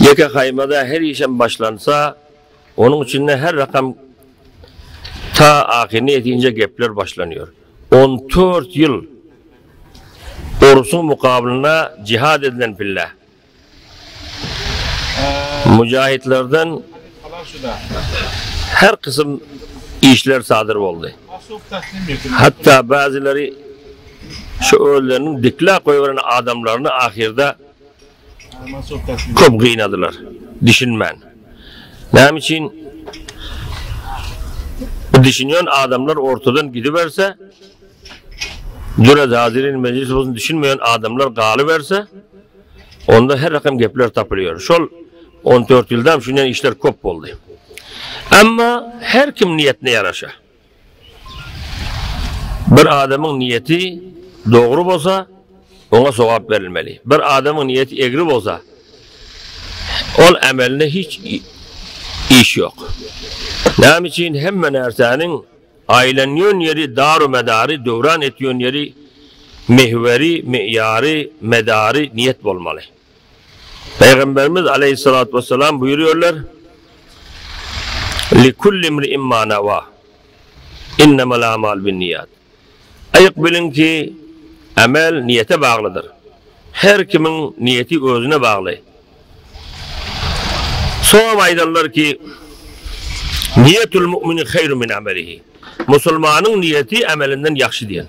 Ýeke haýmada her işem başlansa, onuň içinde her rakam ta ahyryna ýetince gepler başlanýar. On tört ýyl uruşyň mukabylynda jihad edilen pille, müjahitlerden her kysym işler sadyr boldy. Hatda bäzileri Şu özleriniň dikläp goýberen adamlaryny ahyrda köp gynadylar. Düşünmän. Näme üçin bu düşünýän adamlar ortadan gidiberse, Düre Zazirin mejlis bolsun düşünmeýän adamlar galyberse, onda her rakam gepler tapylýar. Şol 14 ýylda hem şundan işler köp boldy. Emma her kim niýetine ýaraşa. Bir adamyň niýeti dogry bolsa, oňa sogap berilmeli. Bir adamyň niýeti egri bolsa, ol ämelinde hiç iş ýok. Näme üçin hemme närsäniň aýlanýan ýeri, daru-medary, döwran etýän ýeri, mihweri, miýary, medary niýet bolmaly? Pygamberimiz Aleýhissalatu wessalam buýurýarlar, Li kulli imri'in ma nawa, innemal a'malu binniýat. Aýyk biliň ki, emel niýete baglydyr. Her kimiň niýeti özüne bagly. Soňam aýdallar ki, Niýetul mu'mini haýru min amelihi. Musulmanyň niýeti emelinden ýagşy diýen.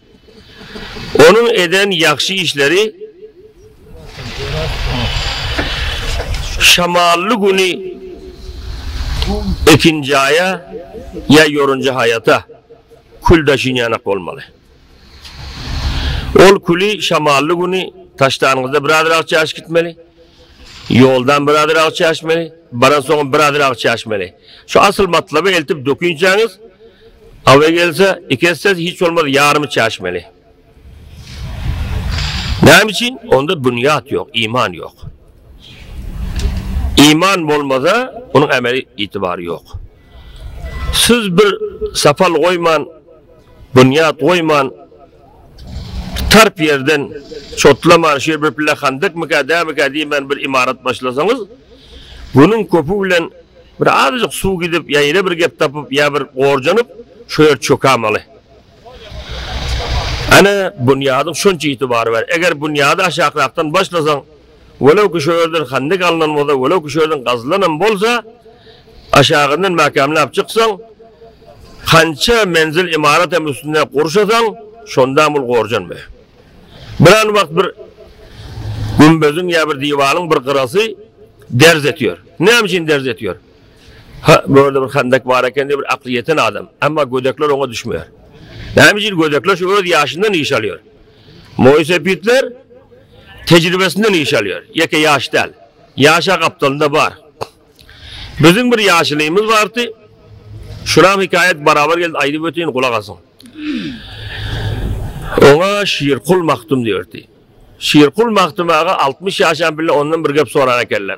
Onuň eden ýagşy işleri şamally güni ekinjaýa ýa ýorunja haýata kül daşyn ýanak bolmaly. Ol küli şamally güni taşdanyňyzda biraz rahat çaşyp gitmeli. Ýoldan birazrak çäşmeli, baransoňam birazrak çäşmeli. Şu asyl matlaby eltip dökünçäňiz, awy gelse, iki esse, hiç bolmasa ýarymy çäşmeli. Näme üçin? Onda bünýat ýok, iman ýok. Iman bolmasa, onuň ämeli itibary ýok. Siz bir sapal goýman, bünýat goýman, Tarp ýerden çotlaman şeýle bir pille handykmyka, dämika diýmän bir ymarat başlasaňyz, günüň köpi bilen bir azajyk suw gidip ýa ýene bir gep tapyp ýa bir gorjanyp şo ýer çökämeli. Ene, bunýadyň şonça ýiti bary bar. Eger bunýady aşakrakdan başlasaň, Welew ki şu ýerden handik alnan bolsa, welew ki şu ýerden gazylanam bolsa, aşagyndan mäkämläp çyksaň, hança menzil ymarat hem üstünde gurşasaň, şondam ol gorjanmaýar. Biran wagt bir gümbeziň ýa bir diwaryň bir gyrasy derz etýär. Näme üçin derz etýär? Ha, bu ýerde bir handik bar eken diýip bir akly ýeten adam, emma gödekler oňa düşmeýär. Näme üçin gödekler şu öz ýaşyndan iş alýar. Moýsepitler tejribesinden iş alýar, ýeke ýaş däl. Ýaşa gapdalynda bar. Biziň bir ýaşulymyz bardy. Şuram hekaýat barabar geldi, aýdyp öteýin, gulak asyň. Oňa Şirkul Magtym diýerdi. Şirkul Magtym aga altmyş ýaşan bile ondan bir gep soran ekenler.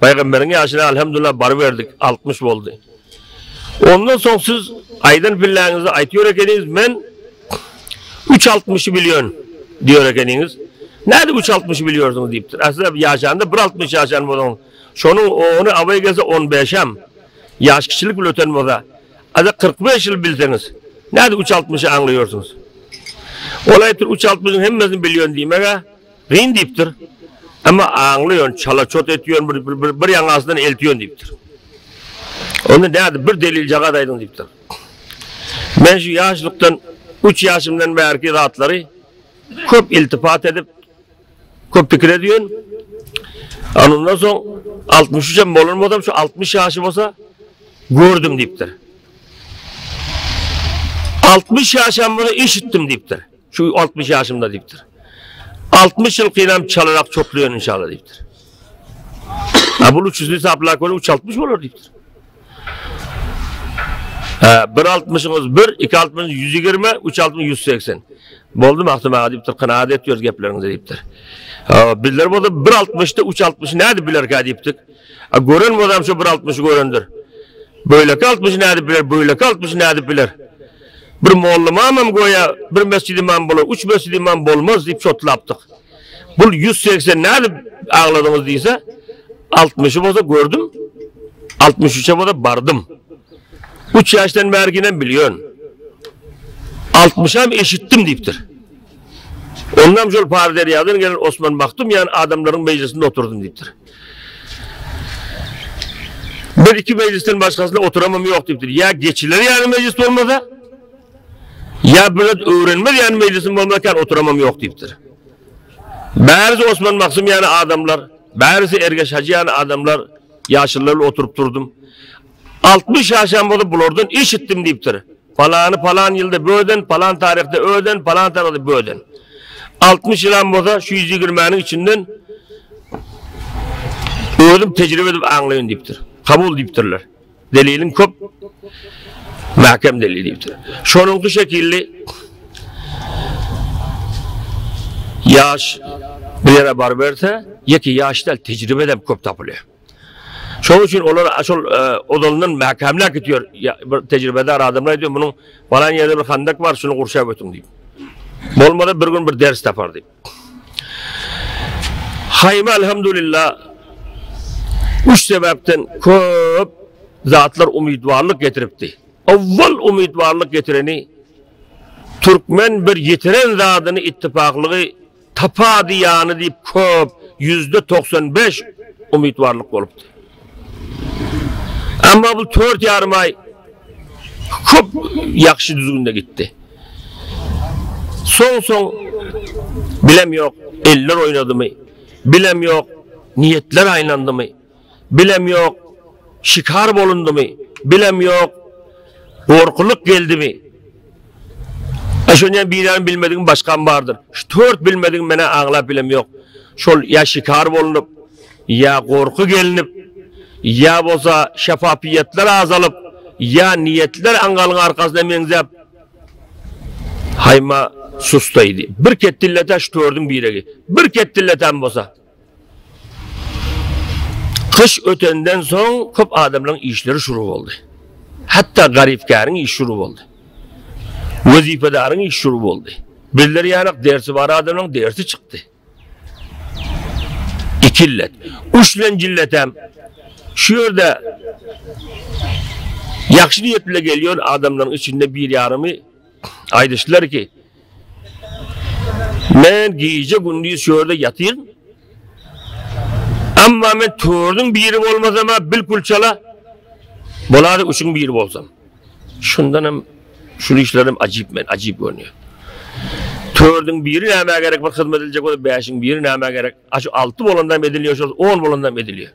Paygamberiň ýaşyna alhamdullah baryberdik, altmyş boldy. Ondan soň siz aýdan pilläňizi aýyp ýör ekeniňiz, men üç altmyşy bilýän diýer ekeniňiz. Nädip üç altmyşy bilýärsiňiz diýipdir. Aslynda ýaşanda bir altmyş ýaşan boluň. Şonuň ony abaý gelse on beşem. Ýaş kiçilik bilen öten bolsa, ada kyrk beş ýyl bilseňiz, nädip üç altmyşy aňlaýarsyňyz? Ol aýypdyr üç altmyşyň hemmesini bilýän diýmeg-ä. Gyn diýipdir. Emma aňlaýan, çala-çot etýän bir bir bir ýaňy asydan eltýän diýipdir. Onda nädip bir deliljagaz aýdyň diýipdir. Men şu ýaşlykdan üç ýaşymdan bärki zatlary köp iltifat edip, köp pikir edýän. Anyndan soň 63 hem bolan bolsam, şu 60 ýaşy bolsa gördüm diýipdir. 60 ýaşam bolsa eşitdim diýipdir. Şu altmyş ýaşymda diýipdir. Altmyş ýyl kynam çalarak çoklaýan inşallah diýipdir. Ha bu üç ýüzli saplak görüň üç altmyş bolar diýipdir. Bir altmyşyňyz bir, iki altmyş ýüz ýigirme, üç altmyş ýüz seksen. Boldy mahtum aga diýipdir, kanagat etýär gepleriňizi diýipdir. Bizler bolsa bir altmyşda üç altmyş nädip bilerkä diýipdik. Gören bolsam şu bir altmyşy görendir. Böyleki altmyş nädip biler, böyleki altmyş nädip biler. Bir molla mamam göýä bir mesjid imam bolar, üç mesjid imam bolmaz diýip çotlapdyk. Bul ýüz segsen nädip agladyňyz diýse, altmyşy bolsa gördüm, altmyş üçe bolsa bardym. Üç ýaşdan bäri ginem bilýän. Altmyşam eşitdim diýipdir. Ondan şol Paryderýadan gelen Osman Magtym ýaly adamlaryň mejlisinde oturdym diýipdir. Men iki mejlisden başgasyna oturamam ýok diýipdir. Ýa geçiler ýaly mejlis bolmasa, ýa bir zat öwrenmez ýaly mejlisim bolmazkän oturamam ýok diýipdir. Bärisi Osman Maksym ýaly adamlar, bärisi Ergeş Hajy ýaly adamlar ýaşylylar bilen oturyp durdum. Altmyş ýaşam bolsa bulardan eşitdim diýipdir. Palany palan ýylda böden, palan taryhda öden, palan taryhda böden. Altmyş ýylam bolsa şu ýüz ýigirmäniň içinden özüm tejribe edip aňlaýyn diýipdir. Kabul diýipdirler. Deliliň köp, mäkem delil diýipdir. Şonuňky şekilli ýaş bir ýere baryberse, ýeke ýaş däl, tejribe edip köp tapylýar. Şonuň üçin olar şol ozalyndan mäkämläp gitýär. Bir tejribedar adamlar aýdýar, munuň palan ýerde bir handak bar, şuny gurşap ötüň diýip. Bolmasa bir gün bir ders tapar diýip. Haýyma alhamdulillah üç sebäpden köp zatlar umytbarlyk getiripdi. Awwal umytbarlyk getireni türkmen bir ýitiren zadyny ittifaklygy Tapady ýany diýip köp, ýüzde togsan bäş, umytwarlyk bolupdy. Emma bu dört ýarym aý köp ýagşy düzgünde gitdi. Soň-soň bilem ýok, eller oýnadymy, bilem ýok, niýetler aýlandymy. Bilem ýok, şikar bolundymy, bilem ýok, gorkulyk geldimi. Aý şony hem birem bilmedigim başgam bardyr. Şu dört bilmedigim menä aňlap bilem ýok. Şol ýa şikar bolunyp, ýa gorky gelnip, ýa bolsa şefafiýetler azalyp, ýa niýetler aňgalyň arkasyna meňzäp, haýma sustaýdy. Bir ketdilletä şu dördüň biregi. Bir ketdilletäm bolsa. Gyş ötenden soň köp adamlaryň işleri şuru boldy. Hatda garypkäriň işi şuru boldy. Wezipedaryň işi şuru boldy. Bizler ýanak dersi bar adamlaryň dersi çykdy. Iki illet. Üç bilen jilletem şu ýerde ýagşy niýet bilen gelýän adamlaryň içinde bir ýarymy Aýdyşdylar ki, Men gije gündiz şu ýerde ýatyryn. Amma men törüň biri bolmasam, bilkul çala bolary üçin biri bolsam. Şundan hem şu işlerim ajyp men, ajyp görünýär. Törüň biri näme gerek bir hyzmat ediljek bolup, bäşiň biri näme gerek? Aşu 6 bolandan edilýär, şol 10 bolandan edilýär.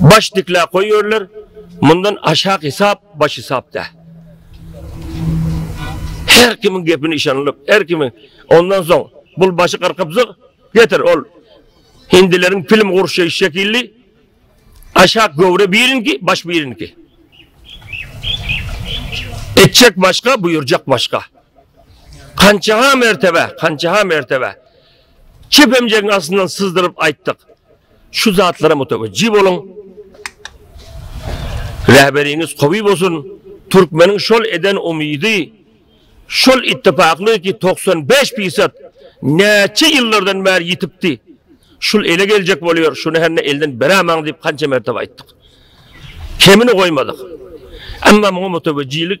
Baş dikläp goýberler, mundan aşak hesap baş hesap däl. Her kimiň gepini işanlyp, her kimi ondan soň bul başy gyrkypzyk getir ol hindileriň film gurşy şekilli aşak göwre birinki, baş birinki. Etjek başga, buyurjak başga. Kançaha mertebe, kançaha mertebe. Kepemjegiň astyndan syzdyryp aýtdyk. Şu zatlara mutawejji boluň. Rähberiňiz gowy bolsun. Türkmeniň şol eden umydy, şol ittifaklygy ki 95 pisat näçe ýyllardan bäri ýitipdi. Şul ele geljek bolýar, şuny henne elden berämaň diýip kança mertebe aýtdyk. Kemini goýmadyk. Emma muňa mutawejjilik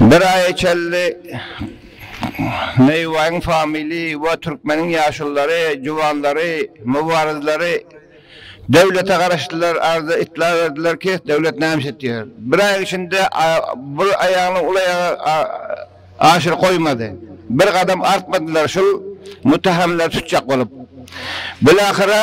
Bir aýa çenli Neýubaýyň famili we türkmeniň ýaşulylary, juwanlary, mubarizleri döwlete garaşdylar, arza itlag berdiler ki, döwlet näme iş etýär? Bir aýyň içinde bir aýagyny ol aýaga aşyr goýmady. Bir gadam artmadylar şul muttahamlary tutjak bolup. Bilahyra.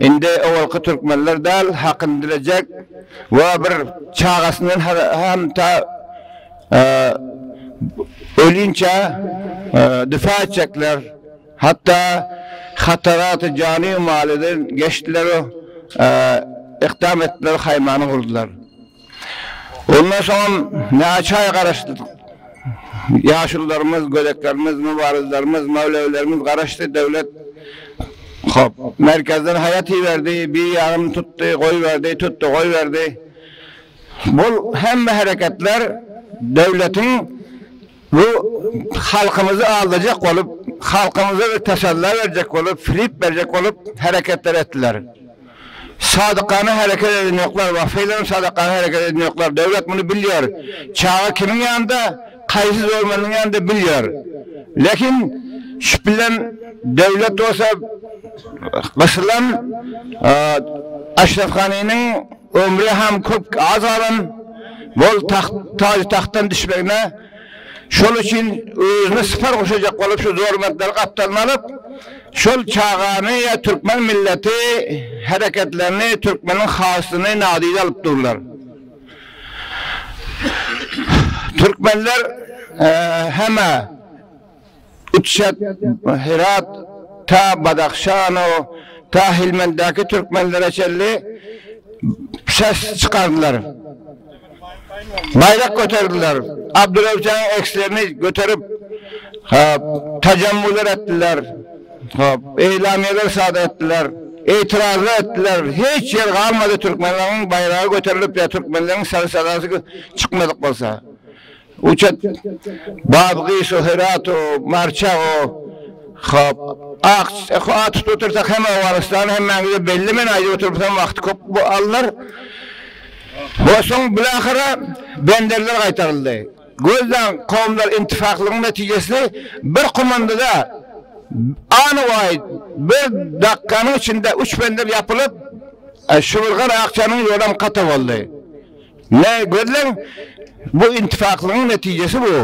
Indi owalky türkmenler däl, hakyny dilejek we bir çagasyndan hem ta ölünçä difa etjekler. Hatda hataraty jany-malydan geçdiler we ykdam etdiler, haýmany gurdular. Ondan soňam näçe aý garaşdyk. Ýaşulularymyz, gödeklerimiz, mübarizlerimiz, möwlewilerimiz garaşdy, döwlet, hop, merkezden haýat iberdi, bir ýagyny tutdy, goýberdi, tutdy, goýberdi. Bu hemme hereketler döwletiň Bu halkymyzy aldajak bolup, halkymyza bir tasalla berjek bolup, flip berjek bolup hereketler etdiler. Sadykana hereket eden ýoklar, wagfylygyn sadykana hereket eden ýoklar. Döwlet muny bilýär. Çaga kimiň ýanynda, kaýsy zormanyň ýanynda bilýär. Lekin şüp bilen döwlet bolsa gysylan Aşraf Ganiniň Ömri hem köp az galan bol tagt taýy-tagtdan düşmegine, şol üçin özüne sypar goşajak bolup şu zor bentleri gapdalyna alyp, şol çagany ýa türkmen milleti hereketlerini, türkmeniň hasyny nadyra alyp durlar. Türkmenler hemä. Uçjak Herat, ta Badahşano, ta Helmenddäki türkmenlere çenli ses çykardylar. Baýrak göterdiler. Abdurewşanyň ekslerini göterip, hop, tajammular etdiler. Hop, eýlamiýeler sadar etdiler. Etirazlar etdiler. Hiç ýer galmady türkmenleriň baýragy göterilip ýa türkmenleriň sary-sadasy çykmadyk bolsa. Uçut, Babgyşo, Herato, Marçago, hop, ak, a tutup otursak hem Owganystany hemmäňize belli men aýdyp otursam wagty köp bu alnar. We soň bilahyra benderler gaýtaryldy. Gözleň kowumlar intifaklygyň netijesini bir komandada anywaý bir dakganyň içinde üç bender ýapylyp, Şuwurgan Akjanyň ýolam kata boldy. Nä gözleň, bu intipaklygyň netijesi bu.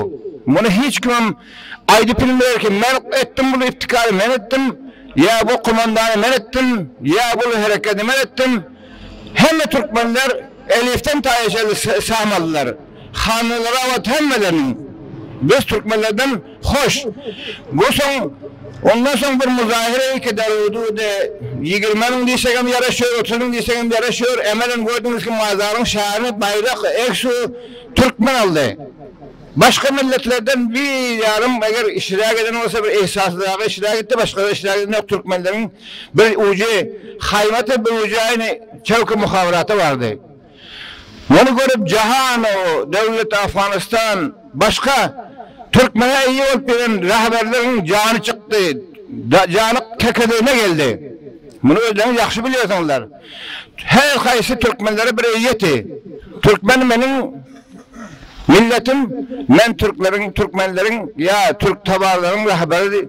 Muny hiç kimem aýdyp bilmeýär ki, men etdim bul iptikary men etdim, ýa bu komandany men etdim, ýa bul herekedi men etdim. Hemme türkmenler elifden taýa çenli samalylar. Hannalara wagt hemmeleriniň biz türkmenlerden Hoş. Bu soň ondan soň bir muzahyra iki Dawudy ýigirme müň diýsegem ýaraşýar, otuz müň diýsegem ýaraşýar. Emelem gördüňiz ki mazaryň şany baýrak egsu türkmen aldy. Başga milletlerden bir ýarym eger işräk eden bolsa bir egsasyzragy işräk etdi başgada işräk eden ýok türkmenleriň bir ujy haýmata bir ujy aýny çewki muhabyraty bardy. Muny görüp Jahanow döwlet Afganystan başga türkmene eýe bolup ýören rahberleriň jany çykdy, jany kekedigine geldi. Muny özleriňiz ýagşy bilýärsiňizler. Her haýsy türkmenlere bir eýýeti. Türkmen meniň milletim, men türkleriň, türkmenleriň ýa türk tabaralaryň rahberi.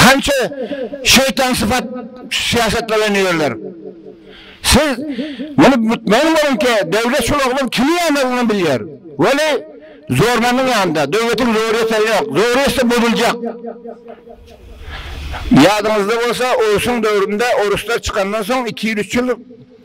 Kança şeýtan sypat syýasat bilen ýörler. Siz muny mutmaýyn boluň ki döwlet şul oglan kimi ýanladygyny bilýär. Weli zormanyň ýanynda döwletiň zor ýeseri ýok. Zor ýetse bozuljak. Ýadyňyzda bolsa orsuň döwründe oruslar çykandan soň iki ýyl üç ýyl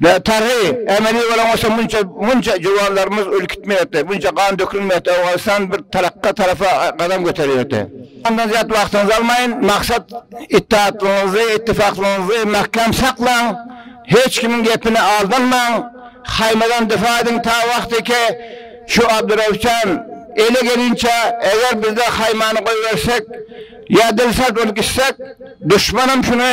Bitaryhy emeli bolan bolsa munça munça juwanlarymyz ölüp gitmeýärdi, munça gan dökülmeýärdi, Owganystan bir tarakga tarapa gadam göterýärdi. Mundan zyýat wagtyňyzy almaýyn, maksat ittihatlygyňyzy, ittifaklygyňyzy mäkäm saklaň, hiç kimiň gepine aldanmaň, haýmadan defa ediň ta wagtyke şu Abdyrewşan ele gelinçä, eger bizde haýmany goýbersek ýa dilsert bolup gitsek, duşmanam şuny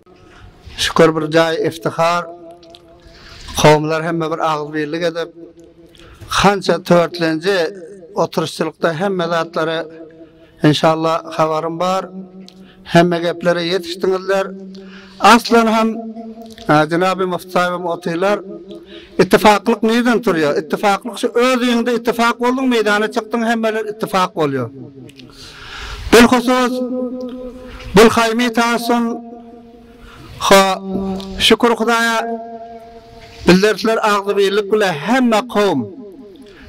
Şükür bir jaý iftihar, kowumlar hemme bir agyzbirlik edip, hança törtlenji oturyşçylykda hemme zatlary enşallah habarym bar, hemme geplere ýetişdiňizler. Aslan hem jenaby Muftisaýybam otylar. Ittifaklyk nirden turýar? Ittifaklyk şu özüňde ittifak bolduň meýdana çykdyň hemmeler ittifak bolýar. Bilhusus, Bulhaýmy Tasun ho, şükür Hudaýa, ildersler agzybirlik bile hemme kowum,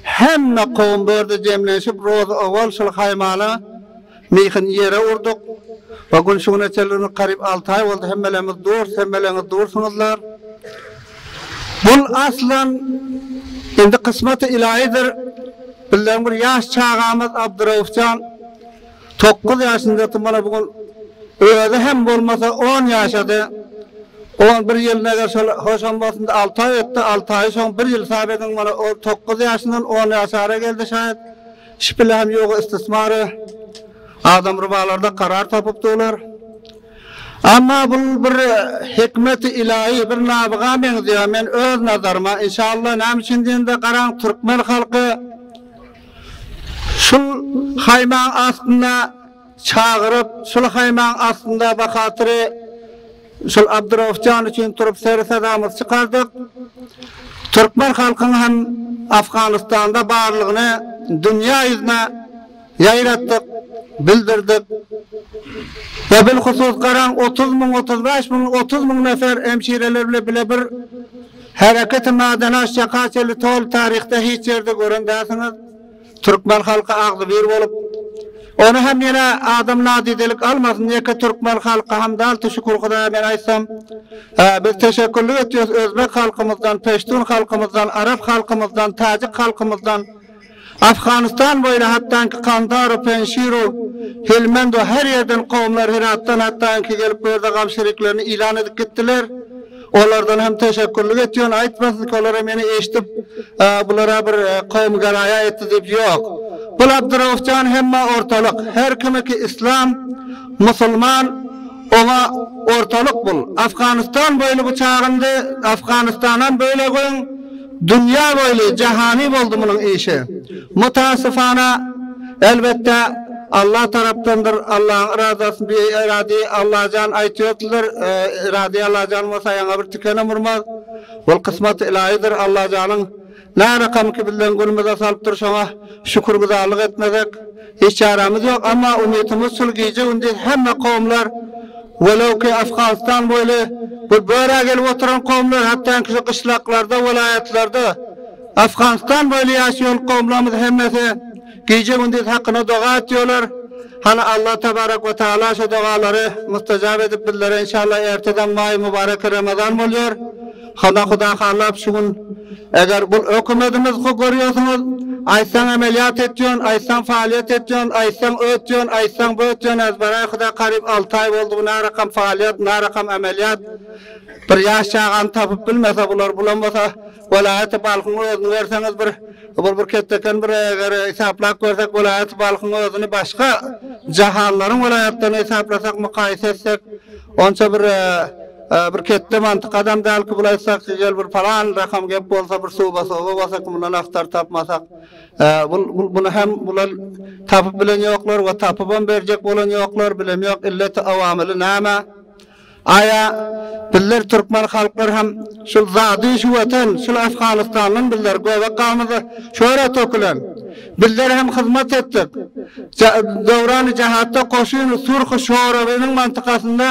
hemme kowum bu ýerde jemlenşip rozy owal şol haýmala myhyny ýere urduk we gün şu güne çenli karyp alty aý boldy hemmelerimiz durus, hemmeleriňiz dursuňyzlar. Bul aslan indi kysmaty ilaýydyr. Bizleň bir ýaş çagamyz Abdyraufjan tokguz ýaşyndady mana bu gün özi hem bolmasa on ýaşady. On bir ýylyny eger şol hoşam bolsunda alty aý ötdi, alty aýy şoň bir ýyl hasap ediň mana ol tokguz ýaşyndan on ýaşara geldi şaýat şpile hem ýoga istismary adam rubalarda karar tapypdylar. Emma bul bir hikmeti ilahi, bir nabyga meňzeýär, men öz nazaryma, inşallah, näme üçin diýende, garaň, türkmen halky şul haýmaň astynda çagyryp, şul haýmaň astynda bahatyry şul Abdurauf jan üçin turup seri-sadamyzy çykardyk. Türkmen halkyň hem Afganystanda barlygyny dünýä ýüzüne Ýaýratdyk, bildirdik we bilhusus garaň otuz müň, otuz bäş müň, otuz müň nefer hemşireler bile bile bir hereketi madany açjak haçeli toly taryhda hiç ýerde gören dälsiňiz. Türkmen halky agzybir bolup, ony hem ýene adam nadidelik almasyn, ýeke türkmen halky hem däl, tu şükür Hudaýa men aýtsam, biz teşekkürlik etýäs özbek halkymyzdan, peştun halkymyzdan, arap halkymyzdan, täjik halkymyzdan, Afganystan boýuna hatdanki Kandara, Penşiro, Helmend we her ýerden kowumlar Heratdan hatdanki gelip bu ýerde gam şeriklerini ýylan edip gitdiler. Olardan hem teşekgürlik etýän aýtmasyn ki olara meni eşdip bulara bir kowum geraýa etdi diýip ýok. Bul Abdurauf jan hemme ortalyk her kimi ki islam, musulman oňa ortalyk bul. Afganystan boýly bu çagyndy Afganystanam böle göň. Dünýä boýly jahany boldy munuň işi. Mutasyfana, elbetde, Alla tarapdandyr, Allaň yradasy bi iradi, Allajan aýtýardylar, iradi Allajan bolsa ýaňa bir tikenem urmaz. Ol kysmaty ylaýydyr, Allajanyň närakamyky bizleň günümize salypdyr, şoňa şükürgüzarlyk etmesek, Hiç çaramyz ýok, amma umytymyz şul gije-gündiz hemme kowumlar, welewki Afganstan boýly bu börä gelip oturan kowumlar, hatdanki şu gyşlaklarda, welaýatlarda Afganstan boýly ýaşaýan kowumlarymyz hemmesi gije-gündiz hakyna doga etýärler. Hany Alla tebarek we taala şo dogalary mustajap edip bizlere inşallah erteden maý mübarek Ramazan bolýar. Hana huda halap şu gün eger bul ökümedimiz ho görýosiňiz aýtsaň emeliýat etýon aýtsaň faaliýet etýon aýtsaň ötýon aýtsaň bötýon ez baraý huda karyp alty aý boldy bu narakam faaliýet narakam emeliýat bir ýaş çagany tapyp bilmese bular bulamasa welaýaty balhyň özüni berseňiz bir bul bir ketdeken bir eger esaplap görsek welaýaty balhyň özüni başga jahanlaryň welaýatlaryny esaplasak mukaýese etsek onça bir Bir ketde mantyk adam däl ki bul aýtsak gel bir palan rakam gep bolsa bir suba soba basak mundan aktar tapmasak bul bul bunu hem bular tapyp bilen ýoklar we tapybam berjek bolan ýoklar bilem ýok illeti awamyly näme aýa bizler türkmen halklar hem şul zady şu watan şul afganistandan bizler göbek gamyzy şöre tökülen bizler hem hyzmat etdik döwrany jahatda koşyny surhu şoragynyň mantykasynda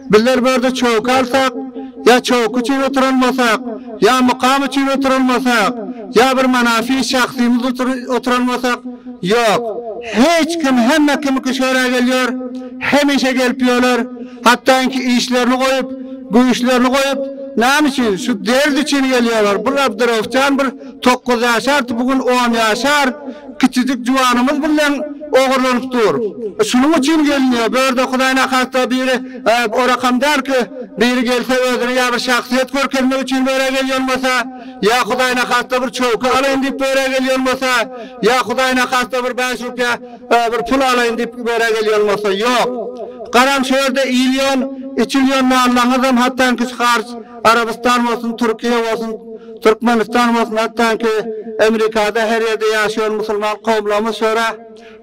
Bizler börde çoky alsak, ýa çoky üçin oturalmasak, ýa mukam üçin oturalmasak, ýa bir manafy şahsymyz uçin oturalmasak, ýok, hiç kim hemme kimiki şöra gelýär, hemişe gelip ýörler, hatda inki işlerini goýup, güýçlerini goýup, näme üçin, şu dert üçin gelýärler, bir Abdyrahupjan bir Tokuz ýaşardy, bu gün on ýaşar, kiçijik juwanymyz bilen ogurlanyp dur. Şunuň üçin gelniýe, bu ýerde Hudaýyň ahasda biri, orakam däl ki, biri gelse özüni ýa bir şahsyýet görkezmek üçin bu ýere gelýän bolsa, ýa Hudaýyň ahasda bir çowka alaýyn diýip bu ýere gelýän bolsa, ýa Hudaýyň ahasda bir bäş rupýa bir pul alaýyn diýip bu ýere gelýän bolsa, ýok. Garaň şu ýerde iýilýän, içilýän nallaňyzam hatdanki şu harç, Arabystan bolsun, Türkiýe bolsun, Türkmenistan bolsun hatdanki Amerikada her ýerde ýaşaýan musulman kowumlarymyz şora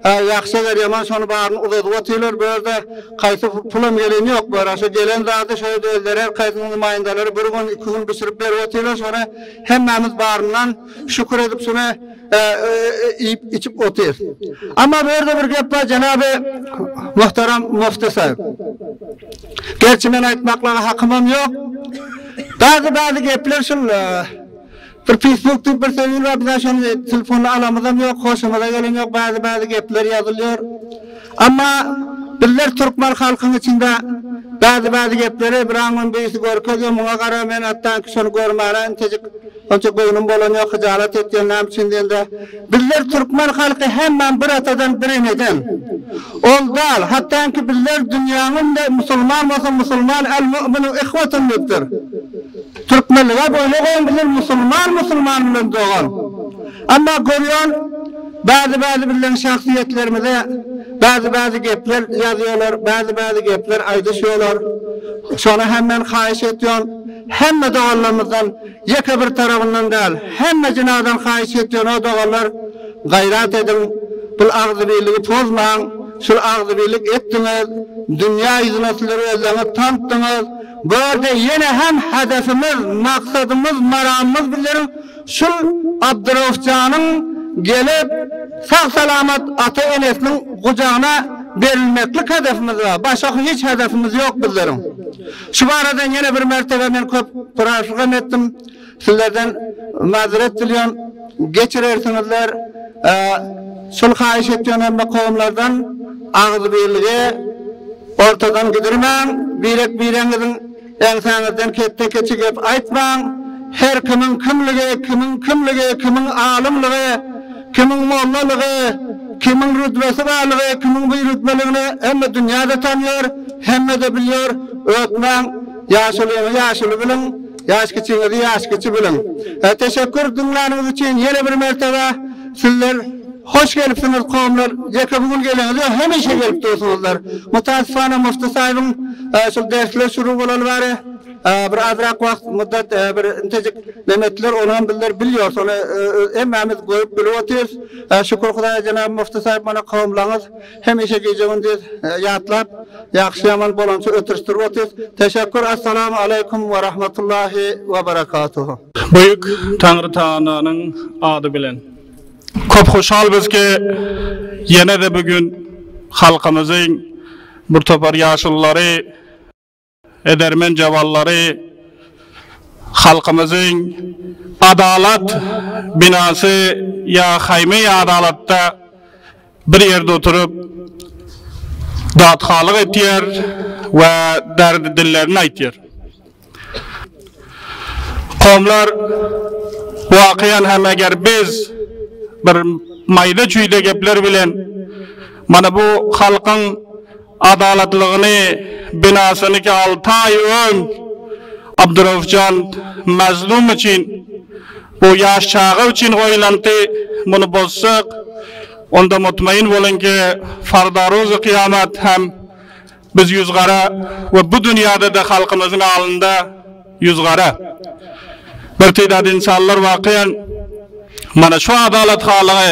ýagşy eger ýaman şony baryny uzadyp otyrlar bu ýerde kaýsy pulam geleni ýok bu ýere şo gelen zady şo ýerde özleri her kaýsynyň namaýyndalary bir gün iki gün bişirip berip otyrlar şony hemmämiz baryndan şükür edip şony iýip içip otyrys amma bu ýerde bir gep bar jenaby muhtaram mufti saýyp gerçi men aýtmaklaga hakymam ýok. Dagy bady gepler şul bir fisbuk diýip bir sözül bar bizä şony telefona alamyzam ýok hoşumyza gelen ýok bady bady gepler ýazylýar amma bizler türkmen halkyň içinde bady bady gepleri biraňňam birisi görkezýär muňa gara men atdanki şony görmäne intejik Onça göwnüm bolan ýok hyjalat etýän näme üçin diýende bizler türkmen halky hemmäm bir atadan bir eneden ol dal hatdanki bizler dünýäň öňünde musulman bolsa musulman el mu'minu ihwatun diýipdir türkmenlige boýna goýun bizler musulman musulman bilen dogan emma görýän bäzi bäzi bizleriň şahsyýetlerimize bäzi bäzi gepler ýazýolar bäzi bäzi gepler aýdyşýolar şona hemmen haýyş etýon hemme doganlarymyzdan ýeke bir tarabyndan däl, hemme jinadan haýyş etýän o doganlar gaýrat ediň, bul agzybirligi pozmaň, şul agzybirlik etdiňiz, dünýä ýüzüne sizler özleriňiz tanpdyňyz, bu ýerde ýene hem hedefimiz, maksadymyz, maramymyz bizleriň şul Abdyrowfjanyň gelip sag salamat ata enesiniň gujagyna berilmeklik hedefimiz bar, başga hiç hedefimiz ýok bizleriň. Şu barada ýene bir mertebe men köp soraşyk hem etdim. Sizlerden mazeret dilýän geçirersiňizler. Şol haýyş etýän hem kowumlardan agzybirligi ortadan gidirmäň. Birek bireňiziň eňsäňizden ketde keçi gep aýtmaň. Her kimiň kimligi, kimiň kimligi, kimiň alymlygy, Kimiň mollalygy, kimiň rütbesi barlygy, kimiň birütbeligini hemme dünýä-de tanýar, hemme-de bilýär. Ötmäň, ýaşulyňy ýaşuly biliň, ýaşkiçiňizi ýaşkiçi biliň. Teşekkür diňläniňiz üçin ýene bir mertebe. Sizler hoş gelipsiňiz kowumlar. Ýeke bu gün geleňiz ýok, hemişe gelip dursuňyzlar. Mutasypana Mufti Saýybyň şul dersler şuru bolaly bäri, Bir azrak wagt muddat bir intejik neme etdiler, ony hem bizler bilýorys, ony hemmämiz görüp bilip otyrys. Şükür Hudaýa jenap Mufti Saýyp muny kowumlaňyz, hemişe gije-gündiz ýatlap, ýagşy-ýaman bolança ötüşdirip otyrys. Teşekkur, Assalamu aleýkum we rahmetullahi we berekatuhu. Büyük Taňry Tagalanyň ady bilen. Köp hoşalbys ki, ýene-de bu gün halkymyzyň bir topar ýaşululary, Edermen jaballary halkymyzyň Adalat binasy ýa Haýmy Adalatda bir ýerde oturyp datkalyk etýär we derdi dillerini aýtýar. Komlar wakyýan hem eger biz bir maýda-çüýde gepler bilen mana bu halkyň Adalatlygyny binasynyky alty aý öň Abduraufjan Mazlum üçin, bu ýaş çaga üçin goýlandy, muny bozsak, onda mutmaýyn boluň ki, fardaruzy kyýamat hem biz ýüz gara we bu dünýäde-de halkymyzyň alynda ýüz gara. Birtidad insanlar wakyýan mana şu adalathalygy,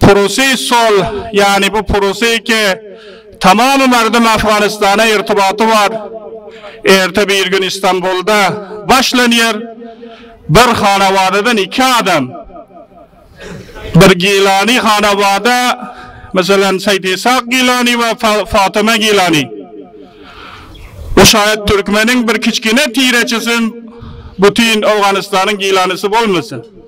Pursy sol, ýany bu pursy ki, tamamy merdum Afganistana irtybaty bar. Erte bir gün Istanbulda başlanýar. Bir hanawadadan iki adam, bir Gilani hanawada, meselem, Seýit Ishak Gilani we Fatyma Gilani. Bu şaýat türkmeniň bir kiçgine tireçisin, bütin Awganystanyň Gilanysy bolmasyn.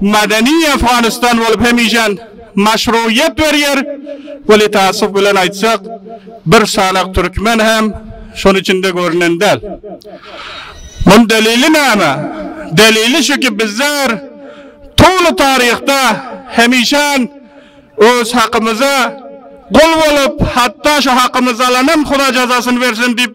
Madeni Afganistan bolup hemişem maşruýýet berýär. Weli taassup bilen aýtsak, bir sanak türkmen hem şonuň içinde görünen däl. Munuň delili näme? Delili şu ki, bizler tuly taryhda hemişem öz hakymyza gul bolup, hatda şu hakymyzy alanam Hudaý jazasyny bersin diýip,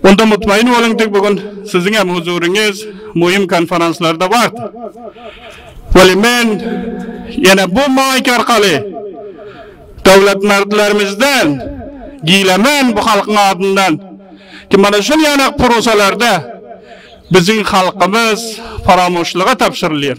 Onda mutmaýyn boluň ki, bu gün siziň hem huzuryňyz möhüm konferanslarda bardy. Weli men ýene bu maýk arkaly döwletmertlerimizden gilemän bu halkyň adyndan ki, mana şol ýanak purusalarda biziň halkymyz paramoşlyga tabşyrylýar.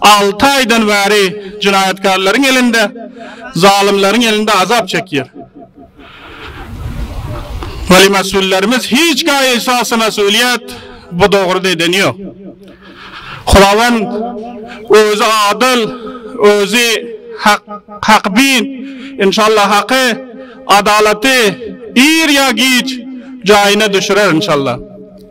Alty aýdan bäri jenaýatkarlaryň elinde, zalymlaryň elinde azap çekýär. Weli mesullerimiz hiç gaýa esasy mesulyýet bu dograda edeni ýok. Hudawend özi adyl, özi hakybin, inşallah haky, adalaty ir ýa giç jaýyna düşürer inşallah.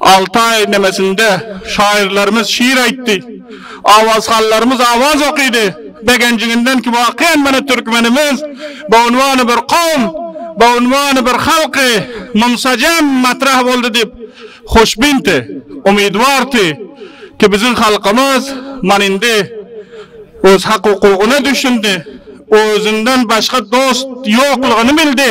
Alty aý endemesin-de, şaýyrlarymyz şir aýtdy, awazhallarymyz awaz okydy. Begenjiňinden ki, wakyýan mana türkmenimiz bu unwany bir kowum, bu unwany bir halky mumsajem matrah boldy diýip, hoşbinti, umydwarty ki, biziň halkymyz mana indi öz hak-hukugyna düşündi, özünden başga dost ýoklugyny bildi.